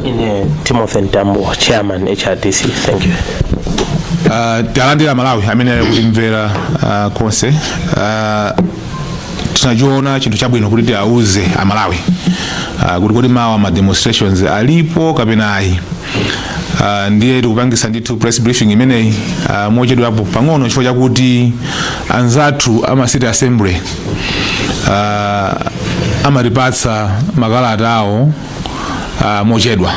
ine timothy ntambo chairman hrdc thank you Ah, talandira amalawi amene ali kutimvera ah, konse Ah, tinachiona chinthu chabwino kuti tiauze amalawi Ah, kuti kodi mawa ma demonstrations alipo kapena ayi Ah, ndiye tikupangisa ndithu press briefing imeneyi ah, mochedwapo pang'ono chifukwa chakuti anzathu ama city assembly ah, amatipatsa makalata awo ah, mochedwa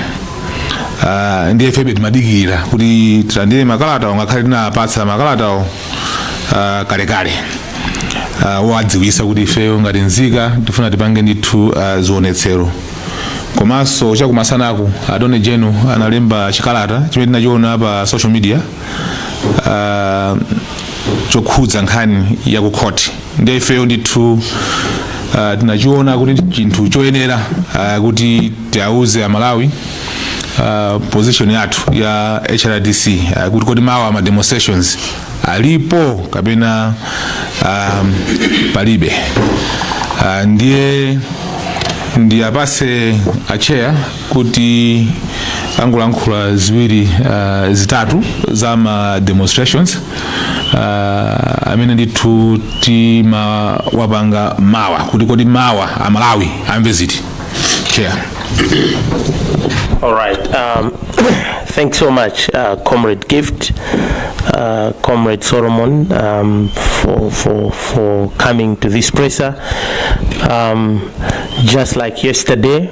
Ah, ndiye ifebe timadikira kuti tilandire makalatawo ngakhale tinapatsa makalatawo ah, kalekale Ah, owadziwitsa kuti ifeyo ngati nzika tifuna tipange ndithu ah, zionetsero komanso chakumasanaku attorney general analemba chikalata chimene tinachiona pa social media ah, chokhudza nkhani ya ku khoti ndiye ifeyo ndithu ah, tinachiona kuti ndi chinthu choyenera ah, kuti tiauze amalawi ah, position yathu ya hrdc ah, kuti kodi mawa ma demonstrations alipo kapena ah, palibe Ah, ndiye ndiwapatse acheya kuti angolankhula ziwiri uh, zitatu za ma demonstrations uh, amene ndithu timati tipange mawa kuti kodi mawa amalawi amve ziti chair All right. Um, thanks so much, uh, Comrade Gift, uh, Comrade Solomon, um, for, for, for coming to this presser. Um, just like yesterday,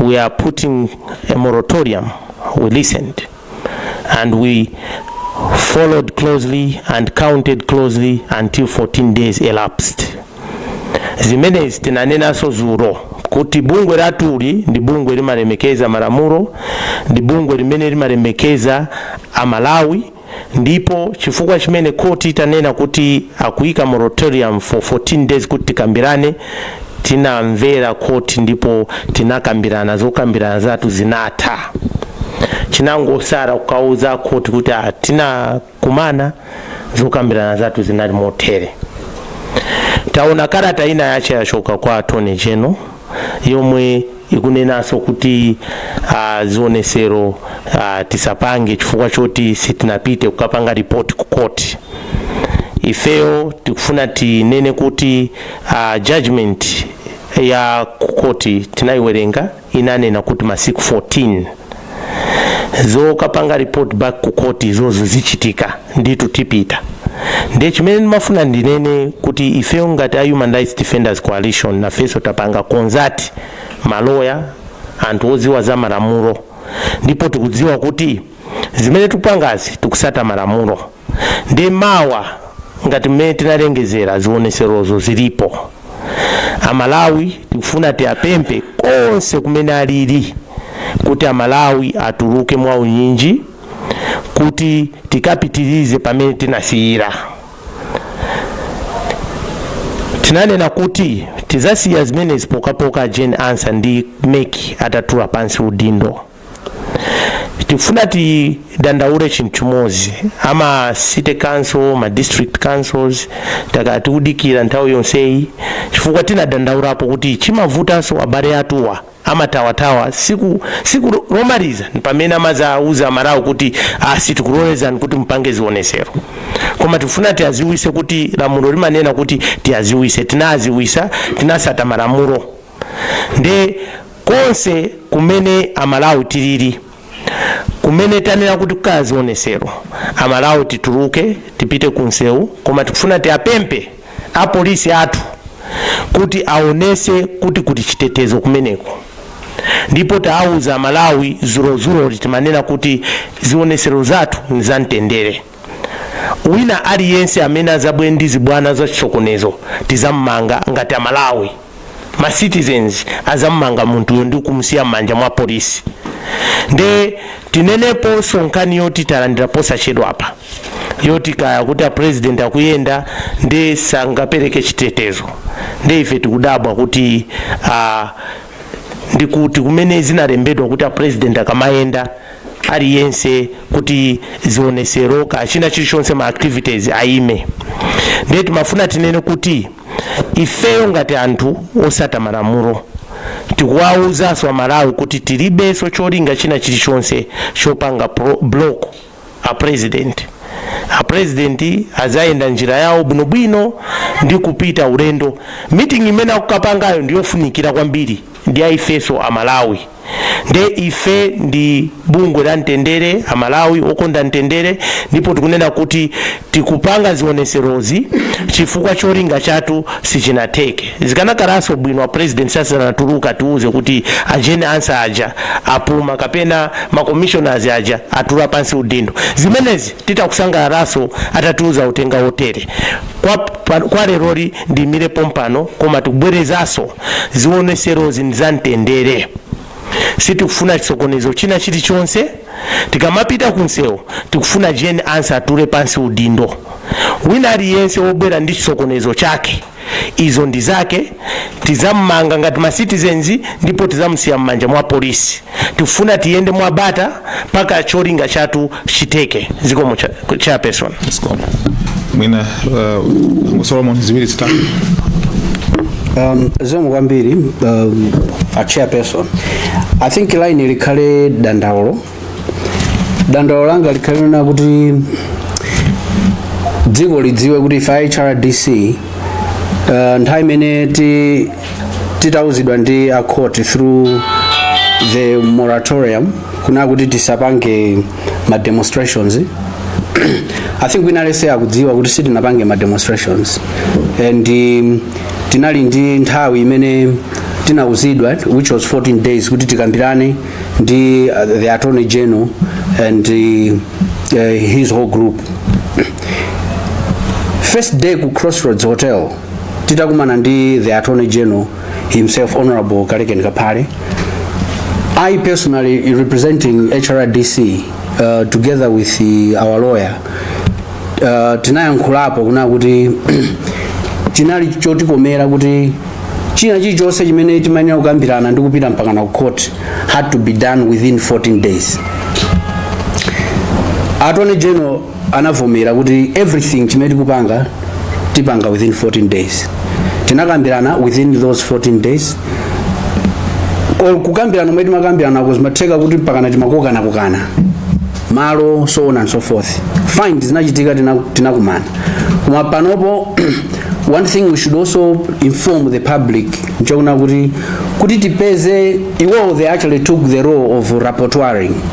we are putting a moratorium. We listened and we followed closely and counted closely until 14 days elapsed. zimenezi tinanenanso dzulo kuti bungwe lathuli ndi bungwe limalemekeza malamulo ndi bungwe limene limalemekeza amalawi Ndipo chifukwa chimene khoti itanena kuti akuika moratorium for 14 days kuti tikambirane, tinamvera khoti ndipo tinakambirana zokambirana zathu zinatha. Chinangotsala kukauza akhoti kuti ah, tinakumana zokambirana zathu zinali motere. Taona kalata ina yake yachoka kwa attorney general yomwe Ikunenanso kuti a zionetsero a tisapange chifukwa choti sitinapite kukapanga report ku court. Ifeyo tikufuna tinene kuti a judgement ya ku court tinayiwerenga inanena kuti masiku 14. zokapanga report back ku court izozo zichitika nditu tipita nde chimene ndimafuna ndinene kuti ifeyo ngati a human rights defenders coalition nafenso tapanga consult maloya anthu odziwa za malamulo ndipo tikudziwa kuti zimene tikupangazi tikusata malamulo nde mawa ngati mmene tinalengezera zioneserozo zilipo amalawi tikufuna tiapempe konse kumene alili kuti amalawi atuluke mwa unyinji kuti tikapitirize pamene tinasiyira tinanena kuti tizasiya zimenezi pokhapokha Jane Ansah ndi MEC atatula pansi udindo tifuna tidandaule chinthu chimodzi ama city council ma district councils takhala tikudikira nthawi yonseyi chifukwa tinadandaulapo kuti chimavutanso abale athuwa amathawathawa siku lomaliza pamene amadzauza amalawi kuti ah sitikulolezani kuti mupange zionesero koma tifuna tiaziwise kuti lamulo limanena kuti tiaziwise tinaaziwisa tinasata malamulo nde konse kumene amalawi tilili kumene tanena kuti kukhala zionesero amalawi tituluke tipite kumsewu koma tikufuna tiapempe apolisi athu kuti aonese kuti kuli chitetezo kumeneko ndipo taawuza amalawi dzulodzuloli timanena kuti zionesero zathu ni zamtendere Wina aliyense amene azabwere ndi zibwana za chisokonezo tizamumanga ngati amalawi ma citizens azamumanga munthuyo ndi kumusiya mmanja mwa polisi nde tineneponso nkhani yoti talandira posachedwa apa yoti kaya kuti a president akuyenda nde sangapereke chitetezo nde ife tikudabwa kuti ah, ndikuti kumene zinalembedwa kuti a president akamayenda aliyense kuti zionesero kaya china chilichonse ma activities ayime nde timafuna tinene kuti ifeyo ngati anthu osata malamulo tikuwawuzanso amalawi kuti tilibenso cholinga china chilichonse chopanga block a president a president azayenda njira yawo bwinobwino ndi kupita ulendo meeting imene akukapangayo ndiyofunikira kwambiri ndi a ifenso amalawi nde ife ndi bungwe la mtendere amalawi okonda mtendere ndipo tikunena kuti tikupanga zioneserozi chifukwa cholinga chathu sichinatheke zikanakhalanso bwino a president asanatuluke atiuze kuti a Jane Ansah aja apuma kapena ma commissioners aja atula pansi udindo zimenezi titha kusangalalanso atatiuza uthenga wotere kwa leroli ndiyimire pompano koma tikubwerezanso zioneserozi ndizamtendere sitikufuna chisokonezo china chilichonse tikamapita kunsewu tikufuna Jane Ansah atule pansi udindo wina aliyense wobwera ndi chisokonezo chake izo ndi zake tizammanga ngati ma citizens ndipo tizamusiya m'manja mwa polisi tifuna tiyende mwabata mpaka cholinga chathu chitheke zikomo cha, chairperson Zikomo. Mwina uh, Uncle Solomon ziwiri zitatu. Um, zikomo kwambiri um, a chairperson i think line likhale dandaulo dandaulo langa likhale lonena kuti dziko lidziwe kuti ife a hrdc uh, nthawi imene ti titauzidwa ndi a court through the moratorium kunena kuti tisapange ma demonstrations i think wina aliyense akudziwa kuti sitinapange ma demonstrations and um, tinali ndi nthawi imene tinauzidwa which was 14 days kuti tikambirane ndi uh, the attorney general and uh, uh, his whole group first day ku crossroads hotel titakumana ndi the attorney general himself honorable Kalekeni Kaphale i personally representing hrdc uh, together with the, our lawyer uh, tinayankhulapo kunena kuti chinali chotikomera kuti china chilichonse chimene timayenera kukambirana ndi kupita mpakana ku court had to be done within 14 days attorney general anavomera kuti everything chimene tikupanga tipanga within 14 days tinakambirana within those 14 days or kukambirana mmene timakambiranako zimatheka kuti mpakana timakokana kokana malo so on and so forth fine zinachitika tina- tinakumana koma panopo one thing we should also inform the public nchonena kuti kuti tipeze iwowo they actually took the role of rapporteuring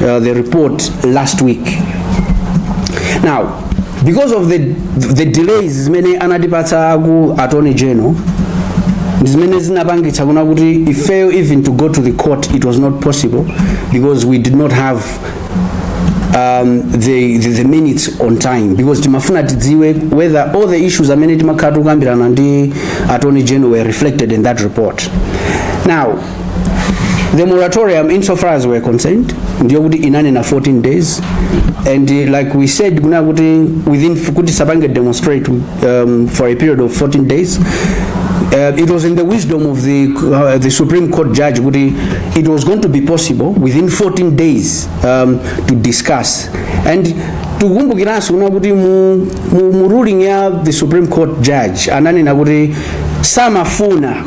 uh, the report last week now because of the, the delays zimene anatipatsa aku attorney general ndi zimene zinapangitsa kunena kuti ifeyo even to go to the court it was not possible because we did not have um, the, the, the minutes on time because timafuna tidziwe whether all the issues amene timakhala tikukambirana ndi attorney general were reflected in that report now the moratorium insofar as we're concerned ndiyo kuti inanena 14 days and uh, like we said kuna kuti within kuti sapange demonstrate um, for a period of 14 days uh, it was in the wisdom of the, uh, the Supreme Court judge kuti it was going to be possible within 14 days um, to discuss and tikumbukiranso kuna kuti mu, mu, mu ruling ya the Supreme Court judge ananena kuti samafuna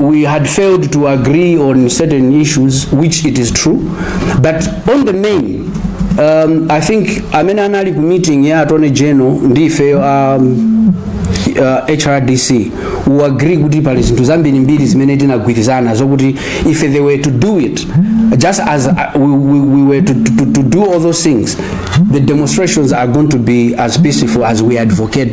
we had failed to agree on certain issues, which it is true. But on the main, um, I think amene anali ku meeting ya Attorney General ndi ife um, uh, HRDC we agree kuti pali zinthu zambiri mbiri zimene tinagwirizana zokuti if they were to do it just as uh, we, we, we were to, to, to do all those things the demonstrations are going to be as peaceful as we advocate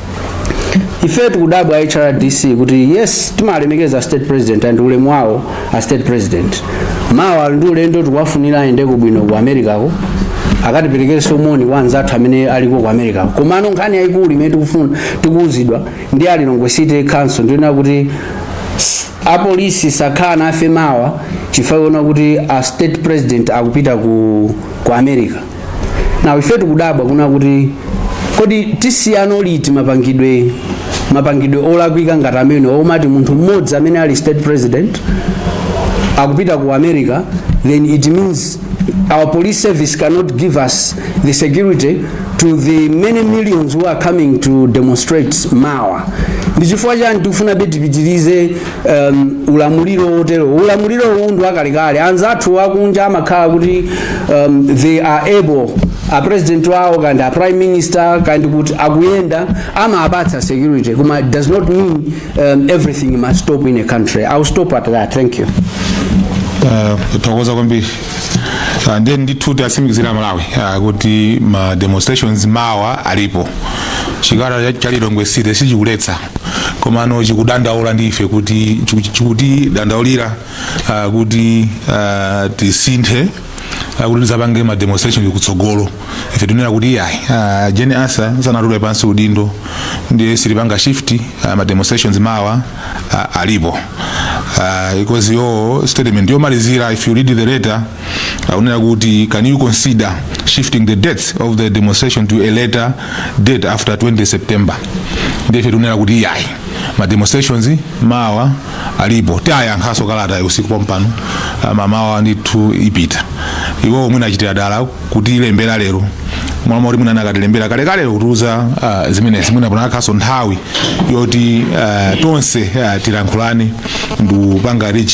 ife tikudabwa hrdc kuti yes timalemekeza a state president and ulemu wawo a state president mawa ali ndi ulendo tikuwafunira ayendeko bwino ku americako akatiperekerenso moni kwa anzathu amene aliko ku americako komano nkhani yayikulu imene tikufuna tikuwuzidwa ndi a lilongwe city council ndiyonena kuti apolisi sakhala nafe mawa chifukwa chonena kuti a state president akupita ku, ku america na ife tikudabwa kunena kuti kodi tisiyano liti mapangidwe mapangidwe olakwika ngati amenewa omati munthu mmodzi amene ali state president akupita ku america then it means our police service cannot give us the security to the many millions who are coming to demonstrate mawa ndiye chifukwa chani tikufuna kuti tipitirize um, ulamuliro wotero ulamuliro uwu ndi wakalekale anzathu akunja amakhala kuti um, they are able a president wawo kaya ndi a prime minister kaya ndi kuti akuyenda amapatsa security koma it does not mean um, everything must stop in a country i'll stop at that thank you Ah, tathokoza kwambiri Ah, ndiye ndithu tiwatsimikizire amalawi ah, kuti ma demonstrations mawa alipo chikalata cha lilongwe city sichikuletsa komano chikudandaula ndi ife kuti chiku- chikutidandaulira ah, kuti ah, tisinthe ah, kuti tizapange ma demonstration kutsogolo ife tikunena kuti iyayi ah, Jane Ansah sanatule pansi udindo ndiye sitipanga shift ah, ma demonstrations mawa ah, alipo Ah, because iyo statement yomalizira if you read the letter akunena kuti can you consider shifting the dates of the demonstration to a later date after 20 september ndife tikunena kuti iyayi ma demonstrations mawa alipo tiayankhaso kalatayi usiku pompano mmamawa ndithu ipita iwo mwina achitira dala kutilembera lero mmalo moti mwina anakatilembera kalekale kutiuza uh, zimenezi mwina panakakhalaso nthawi yoti uh, tonse uh, tilankhulane ndikupanga reach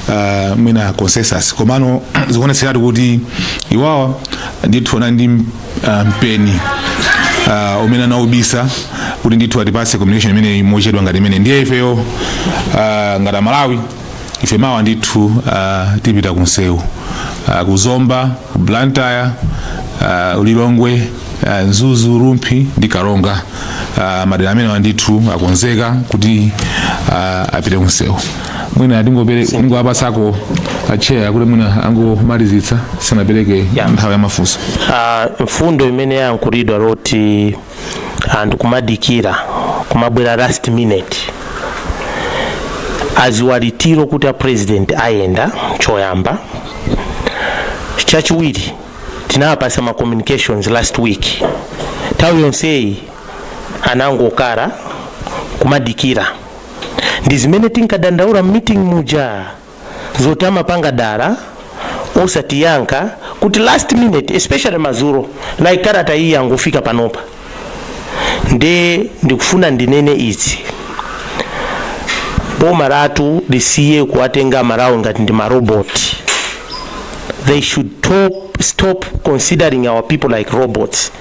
uh, mwina consensus komano zikuonetseratu kuti iwowa ndithu anali ndi uh, mpeni uh, umene anaubisa kuti ndithu atipase communication imeneyi mochedwa ngati imeneyi ndiye ifeyo uh, ngati amalawi ife mawa ndithu uh, tipita kunsewu uh, kuzomba ku blantyre uh, ku lilongwe uh, Mzuzu, Rumphi ndi Karonga. Uh, madera amenewa ndithu akonzeka kuti uh, apite kunsewu mwina ndingowapasako acheya kuti mwina angomalizitsa tisanapereke Yeah. nthawi ya mafunso Ah, mfundo imene yayankhulidwa yoti anthu kumadikira kumabwera last minute aziwanditiro kuti a president ayenda choyamba chachiwiri tinawapasa ma communications last week nthawi yonseyi anangokhala kumadikira ndi zimene tinkadandaula mmeeting muja zoti amapanga dala osatiyankha kuti last minute especially madzulo like kalata iyi yangofika panopa nde ndikufuna ndinene izi boma latu lisiye kuwatenga aMalawi ngati ndi maroboti they should top, stop considering our people like robots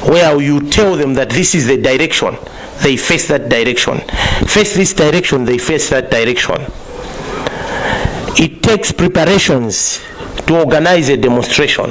where you tell them that this is the direction they face that direction face this direction they face that direction it takes preparations to organize a demonstration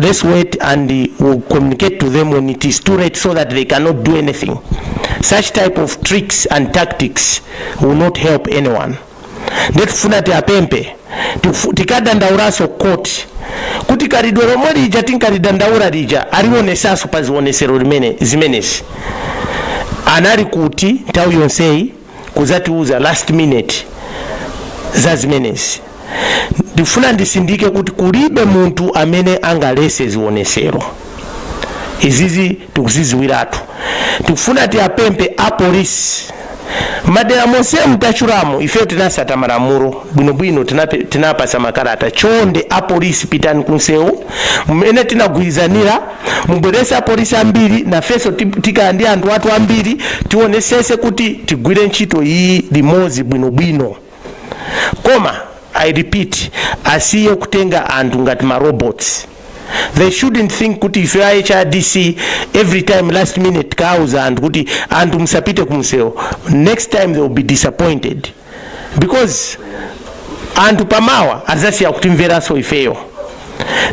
let's wait and we'll communicate to them when it is too late so that they cannot do anything. Such type of tricks and tactics will not help anyone. nde tifuna tiapempe tifu- tikadandaulaso ku court kuti khalidwe lomwe lija tinkalidandaula lija aliwonesaso pa zionesero zimenezi anali kuti nthawi yonseyi kudzatiuza last minute za zimenezi ndifuna ndisindike kuti kulibe munthu amene angalese zionesero izizi tikuziziwiratu tikufuna tiapempe apolisi madera monse ntatchulamo ife tinasata malamulo bwinobwino tinape- tinapasa makalata chonde apolisi pitani kunsewu mmene tinagwirizanira mubwerese apolisi ambiri nafenso ti- tika ndi anthu athu ambiri tionesese kuti tigwire ntchito iyi limodzi bwinobwino koma i repeat asiye kutenga anthu ngati ma robots they shouldn't think kuti ife a hrdc every time last minute kuwauza anthu kuti anthu musapite kumsewu next time they will be disappointed because anthu pamawa azasiya kutimveranso ifeyo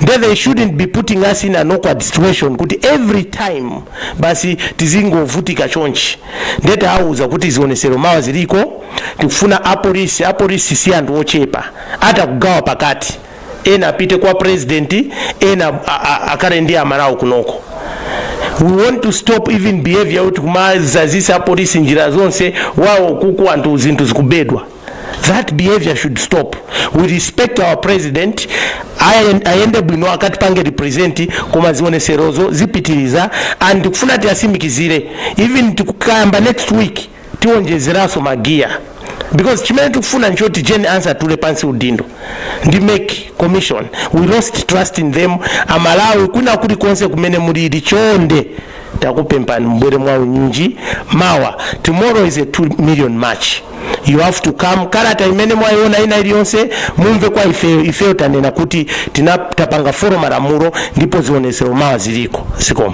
nde they shouldn't be putting us in an awkward situation kuti every time basi tizingovutika chonchi nde tawauza kuti zionesero mawa ziliko tikufuna apolisi apolisi si anthu ochepa atha kugawa pakati ena apite kwa president ena akhale ndi aMalawi kunoko we want to stop even behavior kuti kumazazisa apolisi njira zonse awo kuno anthu zinthu zikubedwa that behavior should stop we respect our president ayende bwino akatipange represent koma zioneserozo zipitilira and tikufuna tiwasimikizire even tikukayamba next week tiwonjezeranso ma gear because chimene tikufuna nchoti Jane Ansah atule pansi udindo ndi MEC commission we lost trust in them aMalawi kwina kulikonse kumene mulili chonde takupempani mbwere mwa unyinji mawa tomorrow is a 2 million march you have to come kalata imene mwayiona ina iliyonse mumve kwa ifeyo ifeyo tanena kuti tina- tapanga follow malamulo ndipo zionetsero mawa ziliko zikomo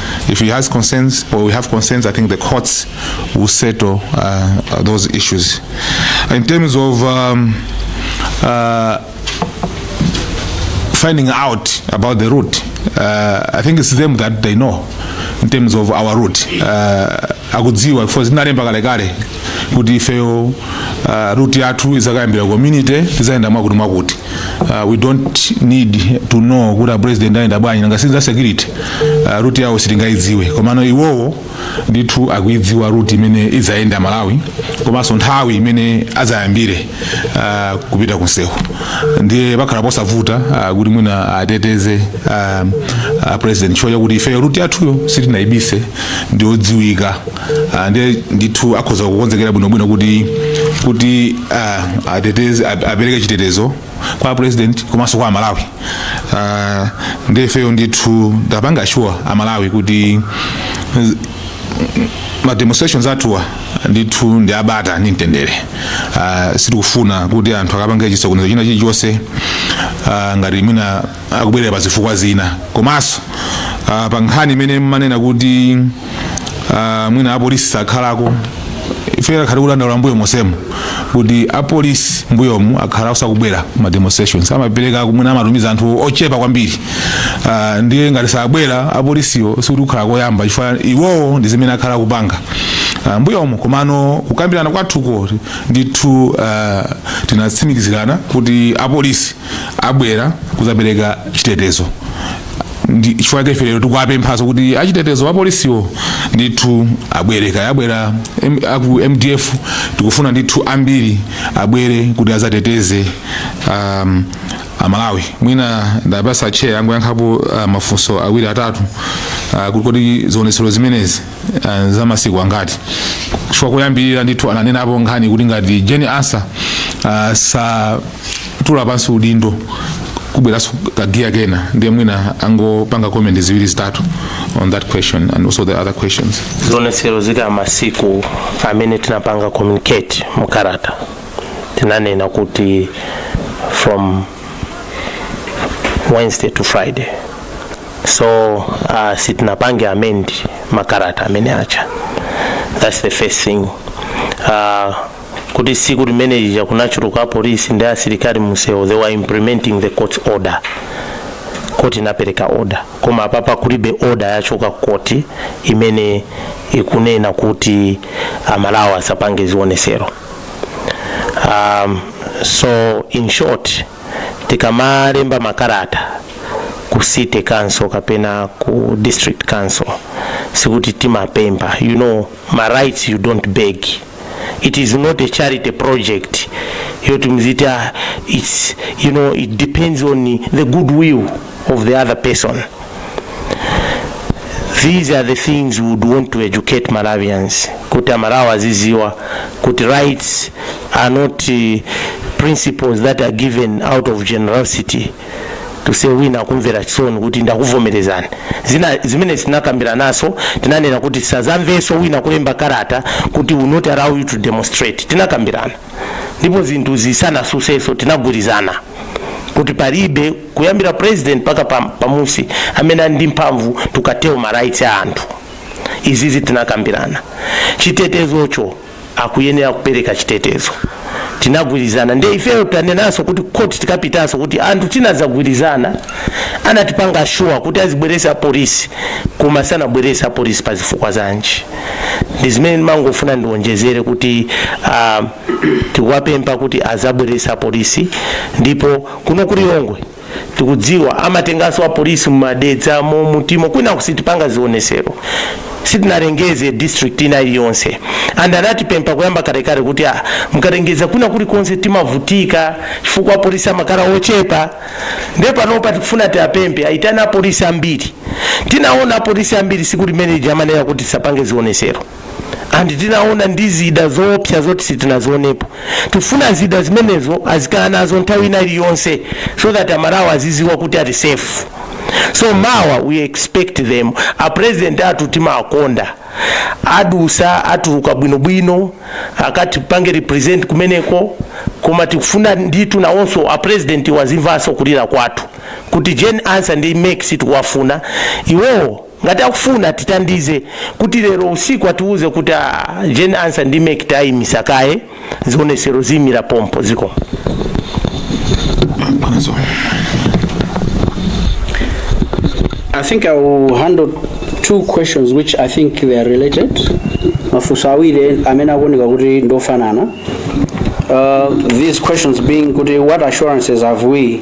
If he has concerns or we have concerns, I think the courts will settle uh, uh, those issues. In terms of um, uh, finding out about the route, uh, I think it's them that they know in terms of our route. Uh, akudziwa for zinalemba kalekale kuti ifeyo uh, route yathu izakayambira community izayenda mwakuti mwakuti uh, we don't need to know kuti apresident ayenda bwanji nanga sinza security uh, route yawo sitingaidziwe komano iwowo ndithu akuidziwa route imene idzayenda amalawi komanso nthawi imene adzayambire uh, kupita kunsewu ndiye pakhala posavuta uh, kuti mwina ateteze uh, uh, apresident chifukwa chakuti ifeyo route yathuyo sitinaibise ndiyodziwika Ah, ndiye ndithu akhoza kukonzekera bwinobwino kuti kuti ah, ateteze ap- apereke chitetezo kwa apresident komanso kwa amalawi Ah, ndiye ifeyo ndithu ndapanga assure amalawi kuti z- ma demonstrations athuwa ndithu ndi abata ndi mtendere Ah, sitikufuna kuti anthu akapange chisokonezo china chilichonse ah, ngati mwina akubwelera pa zifukwa zina komanso uh, pa nkhani imene mmanena kuti uh, mwina apolisi sakhalako ife takhala tikudandaula mbuyo monsemo kuti apolisi mbuyomu akhala osakubwera ma demonstrations amapereka mwina amatumiza anthu ochepa kwambiri uh, ndiye ngati sabwera apolisiyo sikuti kukhala koyamba chifukwa iwowo ndi zimene akhala kupanga uh, mbuyomu komano kukambirana kwathuko ndithu uh, tinatsimikizirana kuti apolisi abwera kuzapereka chitetezo chifukwa chake lero tikuwapemphaso kuti achitetezo apolisiwo ndithu abwere kaya abwera M- aku mdf tikufuna ndithu ambiri abwere kuti azateteze um, amalawi mwina ndapasa chair angoyankhapo uh, mafunso awiri atatu uh, kuti kodi zionetsero zimenezi uh, za masiku angati chifukwa kuyambirira ndithu ananenapo nkhani kuti ngati jane ansah uh, satula pansi udindo kubweranso kagiya kena ndiye mwina angopanga comment ziwiri zitatu on that question and also the other questions zionetsero zikhala masiku amene tinapanga communicate mu kalata tinanena kuti from wednesday to friday so uh, sitinapange amend makalata amene aja that's the first thing uh, kuti siku limene lija kunachuluka apolisi ndi asilikali mumsewu they were implementing the court order khoti inapereka order koma apapa kulibe order yochoka ku khoti imene ikunena kuti amalawi asapange zionesero um, so in short tikamalemba makalata ku city council kapena ku district council sikuti timapempha you know ma rights you don't beg it is not a charity project yoti muziti ah, it's you know it depends on the goodwill of the other person. These are the things we would want to educate Malawians. Kuti aMalawi aziziwa, kuti rights are not uh, principles that are given out of generosity. to say wina akumvera chisoni kuti ndakuvomerezani zimenezi tinakambirananso tinanena kuti sazamveso wina akulemba karata kuti we'll not allow you to demonstrate tinakambirana ndipo zinthu zisanasuseso tinagwirizana kuti palibe kuyambira president paka pamusi amene ali ndi mphamvu to curtail ma rights a anthu izizi tinakambirana chitetezocho akuyenera kupereka chitetezo tinagwirizana nde ifeyo tanenanso kuti court tikapitanso kuti anthu tinadzagwirizana anatipanga assure kuti azibweresa apolisi koma sanabwerese apolisi pa zifukwa zanji ndi zimene ndimangofuna ndiwonjezere kuti uh, tikuwapempha kuti azabwerese apolisi ndipo kuno ku lilongwe tikudziwa amatenganso apolisi mumadedzamo mutimo kwinaku sitipanga zionesero sitinalengeze district ina iliyonse and anatipempha kuyamba kalekale kuti mukalengeza kwina kulikonse timavutika chifukwa apolisi amakhala ochepa nde panopa tikufuna tiapemphe aitane apolisi ambiri tinaona apolisi ambiri siku limene lija amanena kuti tisapange zionesero and tinaona ndi zida zoopsa zoti sitinazionepo tifuna zida zimenezo azikhala nazo nthawi ina iliyonse so that amalawi aziziwa kuti ali safe so mawa we expect them a president athu timawakonda aduse atuluke bwinobwino akatipange represent kumeneko koma tikufuna ndithu nawonso a president azimvanso kulira kwathu kuti jane ansa ndi mec sitikuwafuna iwowo Ngati akufuna atitandize kuti lero usiku atiuze kuti a Jane Ansa ndi mec taimisa kaye zionesero ziimira pompo zikomo. I think I will handle two questions which I think they are related. Mafunso awiri amene akuoneka kuti ndofanana. Uh, these questions being kuti what assurances have we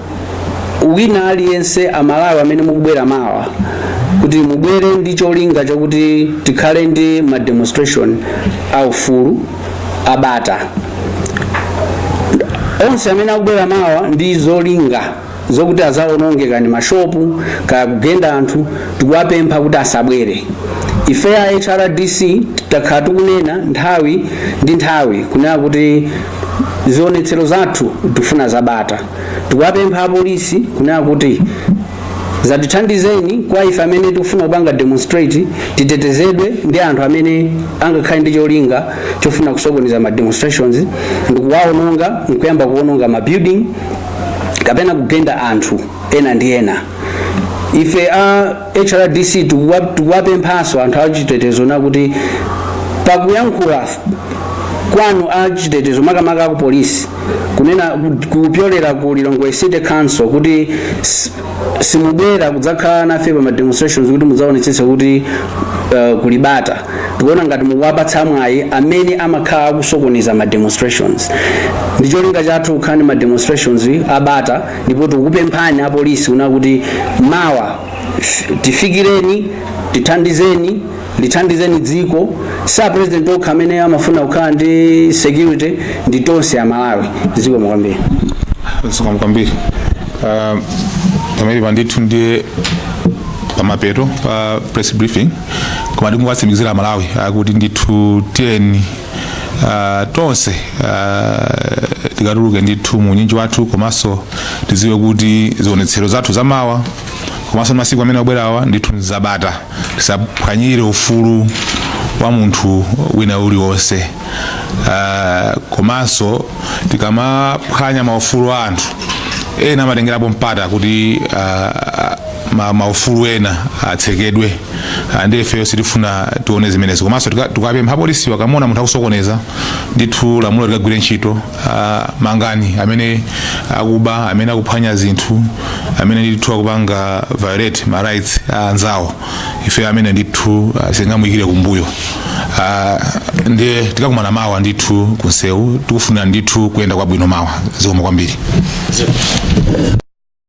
wina aliyense amalawi amene mukubwera mawa kuti mubwere ndi cholinga chakuti tikhale ndi ma demonstration a ufulu abata onse amene akubwera mawa ndi zolinga zokuti azaononge kaya ndi mashopu kaya kugenda anthu tikuwapempha kuti asabwere ife a hrdc takhala tikunena nthawi ndi nthawi kunena kuti zionetsero zathu tifuna zabata Tikuwapempha apolisi kunena kuti zatithandizeni kwa ife amene tikufuna kupanga demonstrate titetezedwe ndi anthu amene angakhale ndi cholinga chofuna kusokoneza ma demonstrations ndikuwaononga nkuyamba kuononga ma building kapena kugenda anthu ena ndi ena ife a hrdc tikuwapemphanso anthu achitetezo na kuti pakuyankhula kwanu achitetezo makamaka aku polisi kunena kupyolera ku lilongwe city council kuti s- simubwera kudzakhala nafe pa ma demonstrations kuti mudzaonetsetse kuti uh, kulibata tikuona ngati mukuwapatsa mwayi amene amakhala akusokoneza ma demonstrations ndi cholinga chathu kukhale ma demonstrations abata ndipo tikukupemphani apolisi kuna kuti mawa f- tifikireni tithandizeni lithandizeni dziko sa president okha amene amafuna kukhala ndi security ndi tonse amalawi zikomo kwambiri zikomo kwambiri Ah, pamene pandithu ndiye pamapeto pa press briefing koma ndikungowatsimikizira amalawi akuti ndithu tiyeni uh, tonse uh, tikatuluke ndithu mu unyinji wathu komanso tiziwe kuti zionetsero zathu zamawa komanso masiku amene akubwerawa ndithu nzabata tisaphwanyire ufulu wa munthu wina uliwonse uh, komanso tikamaphwanya maufulu a anthu ena amatengerapo mpata kuti uh, ma, maufulu ena atsekedwe Ah, ndi ifeyo sitifuna tione zimenezo komanso tika- tikapempha apolisi akamona munthu akusokoneza ndithu lamulo likagwire ntchito ah, mangani amene akuba amene akuphwanya zinthu amene ndithu akupanga violate ma rights a anzawo ife ameneyo ndithu ah, sitingamuyikire kumbuyo Ah, ndiye tikakumana mawa ndithu kunsewu tikufunirani ndithu kuyenda kwabwino mawa zikomo kwambiri